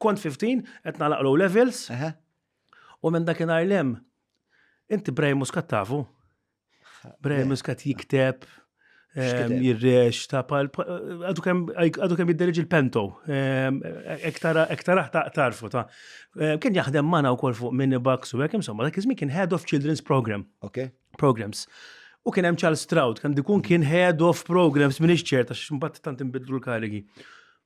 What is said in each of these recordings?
Kont 15, qed nagħlaq low levels. U minn dakinhar lem, inti Brian Muscat tafu? Brian Muscat jikteb, ehm, jirrex, ta' pal, għadu kem jidderġi il-pento, ehm, ektaraħ ta' tarfu ta' ehm, kien jaħdem mana u kol fuq minni bucks u għek, insomma, dak kien head of children's program. Ok. Programs. U kien hemm Charles Stroud, kan dikun kien head of programs minn iċċert, għax mbagħad tant imbidlu l-karigi.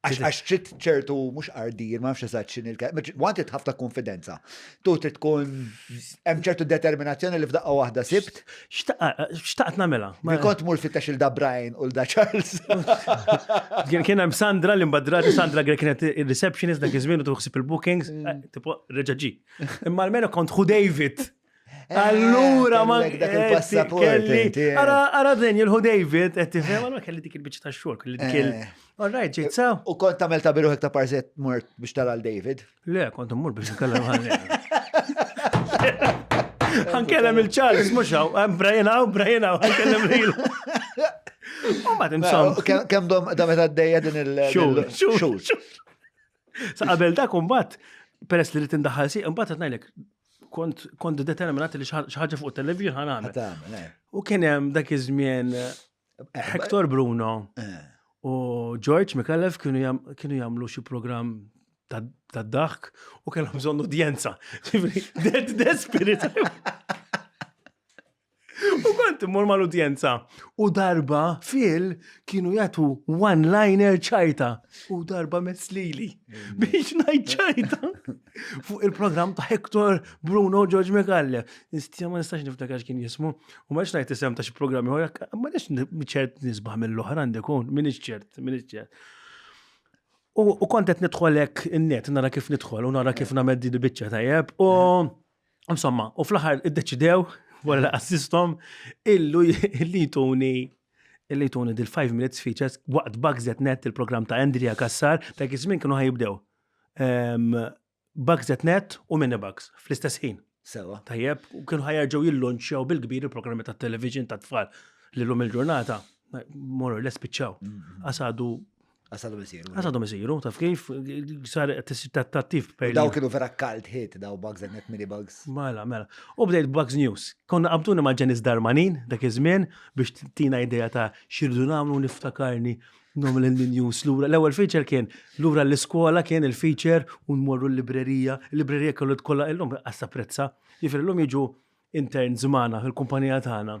Għax trid ċertu mhux ardir, ma nafx eżatt x'in il-kelma, want trid ħafna konfidenza. Tu trid tkun hemm ċertu determinazzjoni li f'daqqa waħda sibt. Xtaqt nagħmilha. Ma kont mur fittex il da Brian u l da Charles. Kien hemm Sandra li mbadrati Sandra Grek kienet ir-receptionist dak iż-żmien u tuħsib il-bookings, mm. eh, tipo reġaġi. Imma almenu kont hu David. Eh, Allura ma kellek dak il-passaport, kelli. inti, eh. Ara, ara din jilħu David, qed tifhem, allura kelli dik il-biċċa ta' xogħol, kelli dik il. Eh. All right, ġejt sa. U kont tagħmel ta' biruħek ta' parzet mort biex tara l David. Le, kont immur biex nkellem ħalli. Ħankellem il-Charles, mhux hawn, hemm Brian hawn, Brian hawn, ħankellem lil. U ma timsom. Kemm dom da meta d-dejja din il- Xhur, xhur, xhur. Sa qabel dak imbagħad peress li rrid indaħħal si imbagħad qed ngħidlek kont kont determinat li xi ħaġa fuq television ħan għamel. Eh. U kien hemm dak iż-żmien eh, eh, Hector Bruno u George Mikalev kienu jagħmlu xi programm ta' daħk u kellhom bżonn udjenza. Dead spirit. U kont immur mal-udjenza. U darba fil kienu jagħtu one-liner ċajta. U darba meslili biex ngħid ċajta. Fuq il-programm ta' Hector Bruno George Megalle. Nistja ma nistax niftakar kien jismu. U ma nix ngħid isem ta' xi programm ieħor, ma nix ċert nisbaħ mill-oħra għandi kun, min ċert, min ċert. U kontet nidħolek in-net, nara kif nidħol, u nara kif named di biċċa tajjeb. U Insomma, u fl-aħħar iddeċidew wara li assistom illu li jtuni illi jtuni dil 5 minutes features waqt Bugsnet Net il-programm ta' Andrea Kassar ta' kizmin kienu ħajibdew. Ehm, Bugsnet Net u Minibugs fl-istess ħin. Sewa. Tajjeb, u kienu ħajarġaw jillonċjaw bil-kbir il-programmi ta' television ta' tfal li l-lum il-ġurnata, morru l-espiċċaw. Għasadu Għasadhom isiru. Għasadhom isiru, taf kif, sar tattattiv per. Daw kienu vera kalt hit, daw bugs and net mini bugs. Mela, mela. U bdejt bugs news. Konna qabtuni ma' ġenis darmanin, dak iż-żmien, biex tina idea ta' xirdu namlu niftakarni nom l-news lura. L-ewwel feature kien lura l-iskola kien il-feature u nmorru l-librerija. Il-librerija kellu tkolla illum għassa prezza. Jifir illum jiġu intern zmana fil-kumpanija tagħna.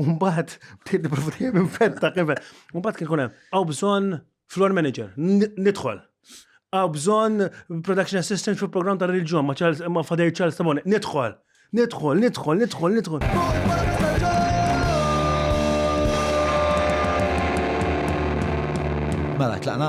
Umbat, bdiet niprofa dejjem infetta kif. Umbat kien kunem, għaw bżon floor manager, nidħol. Għaw bżon production assistant fil program ta' reġjon ma' Charles ma' Fader Charles Tamone, nidħol. Nidħol, nidħol, nidħol, nidħol. Mela, tlaqna?